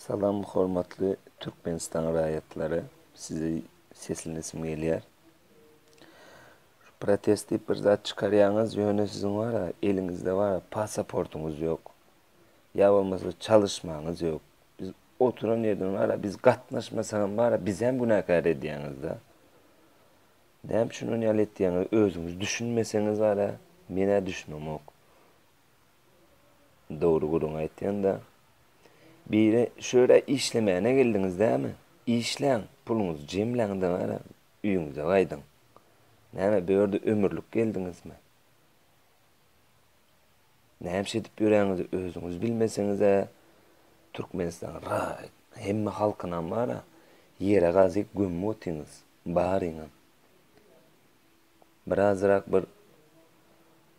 Salam hormatly Türkmenistan raýatlary sizi seslenesim gelýär. Protest diýip bir zat çykarýaňyz ýöne siziň wara eliňizde wara pasaportyňyz ýok. Ýa bolmasa çalyşmaňyz ýok. Biz oturan ýerden wara biz gatnaşmasagam wara bizem günäkär edýäňizda. Näme üçin ony ýaly etýäňiz özüňiz düşünmeseňiz wara menä düşünemok. Dogry gürrüň aýtýanda. Biri şu ýere işlemäne geldiňiz dämi? Işläň, puluňyzy jemläň-de bari öýüňize gaýdyň. Näme, bu ýerde ömürlik geldiňizmi? Näme edip ýöräňizi özüňiz bilmeseňiz-ä, Türkmenistanyň ra, hemme halkynam bar-a, ýere gazy gömüp otyňyz, baryňam. Birazrak bir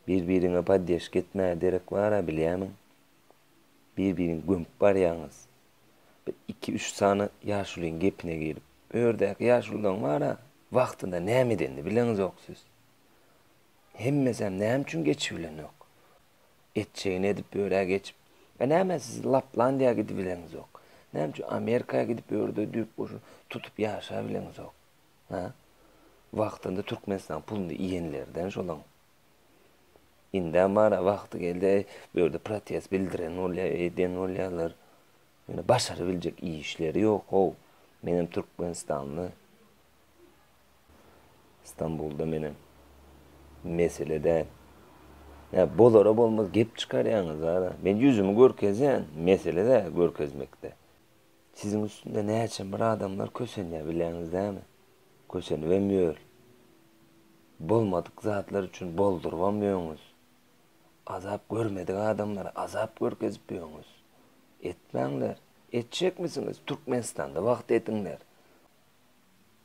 bir biriňe poddeşka etmäge derek bara bilýämiň. Bir biriňi gömüp barýaňyz. Bir iki üç sany ýaşulyň gepine girip. Bu ýerdäki ýaşululaň bara wagtynda näme edenini bileňizok siz. Hemmesem näme üçin geçip bilenok. Etjegini edip ýörä geçip. E näme siz Laplandiýa gidibileňizok. Näme üçin Amerika gidip ýörde düýp goşun tutup ýaşa bileňizok. Hä? Wagtynda Türkmenistanyň puluny iýenlerden şolaň. Indä mara wagty geldi, eý, bu ýerde protest bildiren bolýar, eden bolýarlar. Ýöne başarybiljek işleri ýok-ow. Menem türkmenistanly. Stambulda menem. Mesele däl. Nä, bolara bolmaz gep çykarýaňyz-a. Men ýüzümi görkezýän, mesele däl görkezmekde. Siziň üstünde näçe bir adamlar kösenýär bileňiz näme? Kösenibem ýör. Bolmadyk zatlar üçin boldurybam ýöňüz. Azap görmedik adamlara azap görkezip ýöňüz. Etmäňler. Etjekmisiňiz? Türkmenistanda wagt ediňler.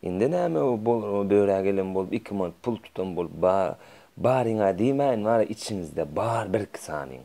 Indi näme bu bolrawa börä gelen bolup iki mant pul tutan bolup bar baryňa diýmäýin wara içiňizde bar birki sanyň.